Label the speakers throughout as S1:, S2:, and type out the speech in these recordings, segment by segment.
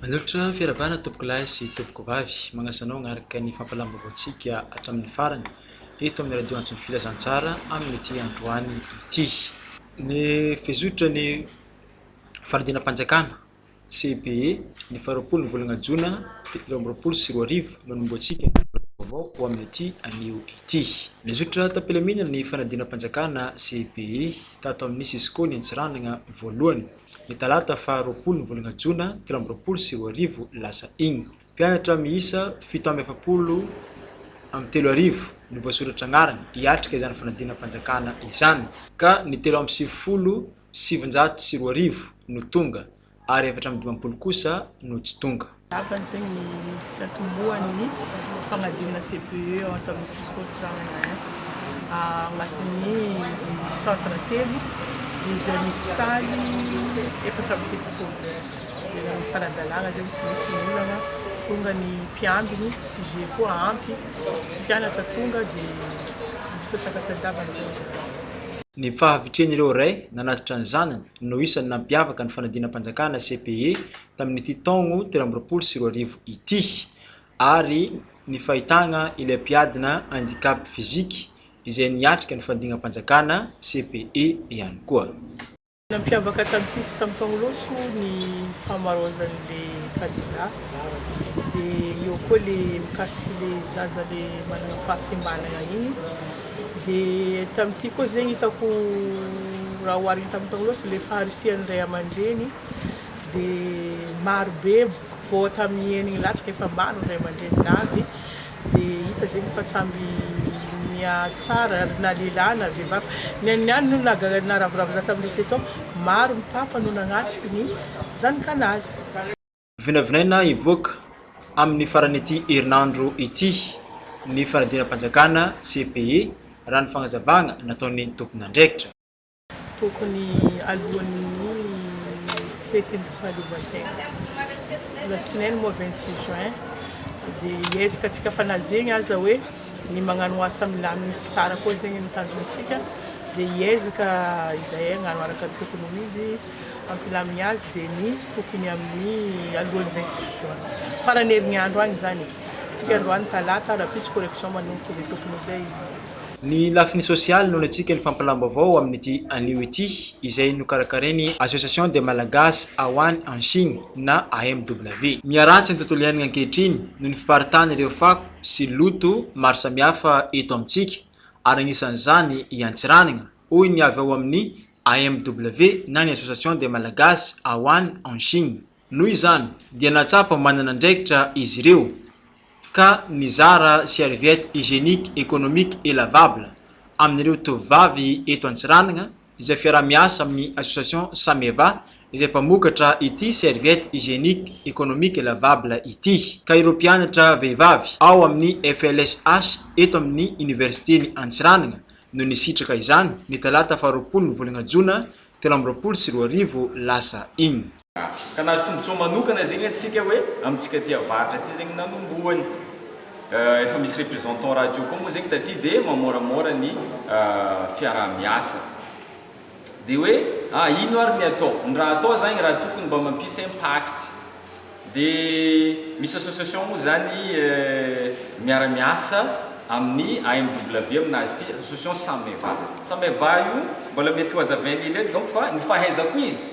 S1: Manotra fiarahabana tompoko lahy sy tompoko vavy, magnasa anao hagnaraka ny fampahalalam-baovaontsika hatramin'ny farany eto amin'ny radio antso ny Filazantsara amin'ity androany ity. Ny fizotra ny fanadinam-panjakana, CEBE, ny faharoapolo ny volana jona telo amby roapolo sy roa arivo no hanombohantsika ny taona vaovao ho amin'ity anio ity. Nizotra tam-pilaminana ny fanadinam-panjakana, CEBE, tato amin'ny Cisco ny Antsiranana voalohany, ny talata faharoapolo ny volana jona telo amby roapolo sy roa arivo lasa iny. Mpianatra miisa fito amby efapolo amby telo arivo no voasoratra anarana hiatrika izany fanadinam-panjakana izany ka ny telo amby sivifolo sy sivinjato sy roa arivo no tonga ary efatra amby dimampolo kosa no tsy tonga. Tapany izay
S2: ny fiantombohan'ny fanadinana CPE ao Antanimora Cisco Antsiranana I. Agnatin'ny centre telo izay misy salle efatra amby fitopolo. Tena mifanadalana zay tsy misy olana tonga ny mpiambiny sujet koa ampy mpianatra tonga de vita tsakasantavana zay zany. Ny
S1: fahavitren'ireo ray nanatitra ny zanany no isan'ny nampiavaka ny fanadinam-panjakana CPE tamin'ity taogno telo amby roapolo sy roa arivo ity ary ny fahitagna ilay mpiadina handicap physique izay niatrika ny fandignam-panjakana CPE ihany koa. Nampiavaka
S2: tamin'ity sy tamin'ny Mpanolotso ny fahamaroazan'ny le kandida dia eo koa le mikasiky le zaza le manana fahasembanana iny dia tamin'ity koa zegny hitako raha oharina tamin'ny Mpanolotso le faharisihan'ny ray aman-dreny dia marobe voa tamin'ny eniny latsaka efa maro ny ray aman-dreny navy Dia hita zegny fa tsamby mihatsara ary na lehilahy na vehivavy. Ny an'ny ihany no naga- naravoravo za tamin'ny lycée tao, maro ny papa no nagnatrika ny zanakanazy.
S1: Vinavinaina hivoaka amin'ny faran'ity herinandro ity ny fanadinam-panjakana, CPE, raha ny fagnazavagna nataon'ny tompon'andraikitra. Tokony
S2: alohan'ny fetin'ny fahaleovantena. Alatsinainy moa vingt six juin dia hiezaka antsika fa na zegny aza hoe ny magnano asa milamina sy tsara koa zegny ny tanjontsika dia hiezaka izahay hagnano araka ny tokony ho izy hampilamigny azy dia ny tokony amin'ny alohan'ny vingt six juin. Faran'ny herignandro any izany e! Antsika androany talata raha pisy correction manomboka dia tokony ho izay izy. Ny lafiny
S1: sosialy no niatsiaka ny fampilam-baovao amin'ity anio ity, izay nokarakarain'ny Association des Malagasy ao any en Chine na AMW. Miharatsy ny tontolo iainana ankehitriny noho ny fiparitan'ireo fako sy loto maro samihafa eto amintsika, ary anisan'izany i Antsiranana, hoy ny avy ao amin'ny AMW na ny Association des Malagasy ao any en Chine. Noho izany dia nahatsapa manana andraikitra izy ireo ka nizara serviette hygienique économique et lavable amin'ireo tovovavy eto Antsiranana izay fiaraha-miasa amin'ny association Sameva izay mpamokatra ity serviette hygienique économique et lavable ity ka ireo mpianatra vehivavy ao amin'ny FLSH eto amin'ny Oniversiten'i Antsiranana no nisitraka izany ny talata faharoapolo ny volana jona telo amby roapolo sy roa arivo lasa iny. Ratsy. Ka nahazo
S3: tombotsoa manokana zegny antsika hoe amintsika aty avaratra aty zegny nanombohany. Efa misy représentant radio koa moa zegny taty de mamoramora ny fiarahamiasa. De hoe a ino ary ny atao? Ny raha atao zagny raha tokony mba mampisy impact de misy association moa zany miaramiasa amin'ny AMW amina azy ity association Sameva. Sameva io mbola mety ho hazavain'ilay donc fa ny fahaizako izy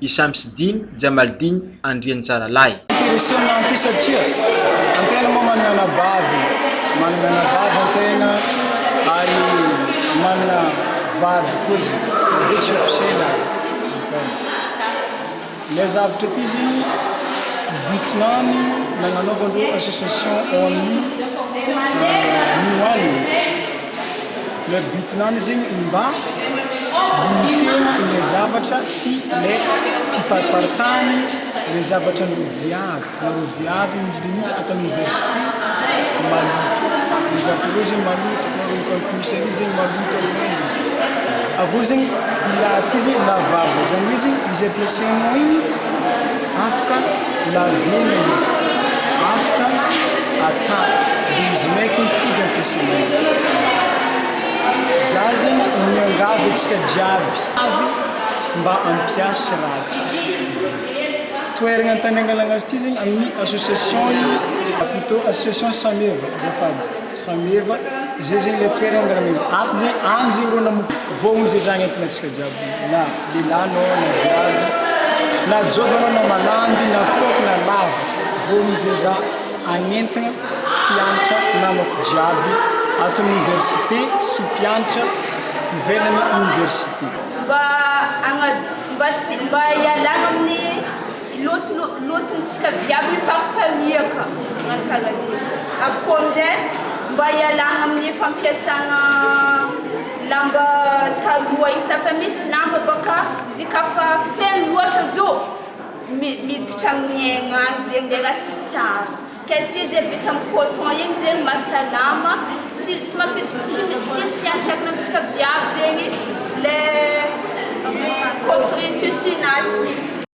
S1: i Shamsidine Jamaldine Andriantsaralahy. Intéressé ny anty
S4: satria antena moa manana anabavy, manana anabavy antena ary manana vady koa zay na dia tsy officiel ary zay. Ilay zavatra ity zegny but nany na nanaovandreo association ao amin'ny New one. le but nany zegny mba initegna le zavatra sy le fipariparitagny le zavatra viavy na le viavy indrindra ato amin'ny université maloto le zavatra reo zegny maloto na le compuserie zegny maloto aminay zegny, avy eo zegny ila ty zegny lavabo zany hoe zegny izy ampiasainao igny. afaka laviana izy, afaka atapy, dia izy maika mifidy ampiasaina azy. Za zegny miangavy antsika jiaby avy mba ampiasa raha ty. Toeragna an-tany angalagna azy ty zegny amin'ny association ny ah plutôt association sameva azafady, sameva zay zegny le toeragna angalagna izy, ato zegny, agny zegny rô nanomboka, voalohany zay zagny entigna antsika jiaby na. Lehilahy anao na viavy, na joba anao na malandy na foiko na lava volo zeza hanentana mpiantra namako jiaby ato amin'ny oniversite sy mpiantra ivelan'ny oniversite. Mba hagna, mba
S5: tsy, mba hialagna amin'ny loto, lotontsika viavy mipampaniaka magnano karaha zegny, avy koa amin'izay mba hialagna amin'ny fampiasagna. Lamba taloha isa fa misy lamba baka zy ka fa feno loatra zo miditra amin'ny aigna any zegny le raha tsy tsara ka izy ty ze vita amin'ny coton igny zegny mahasalama tsy tsy mampidi- tsy mi- tsy misy fiantraikany amintsika viavy zegny le ny coton tissu-nazy ty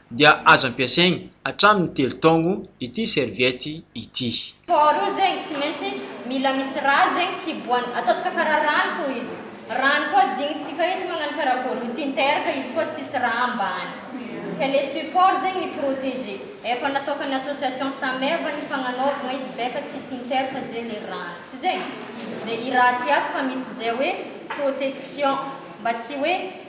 S1: dia azo ampiasaigny hatramin'ny telo taogno ity serviette ity. Faharoa zegny
S6: tsy maintsy mila misy rà zegny tsy hiboahany, ataontsika karaha rano fô izy, rano koa adinontsika eto magnano karakôry, ny tinter ka izy koa tsisy rà ambany, ka le support zegny mi proteger, efa natôkan'ny association sameva ny fagnanaovagna izy beka tsy tinter fa ze le rano, tsy zegny? de i rà ty ato fa misy zay hoe protection mba tsy hoe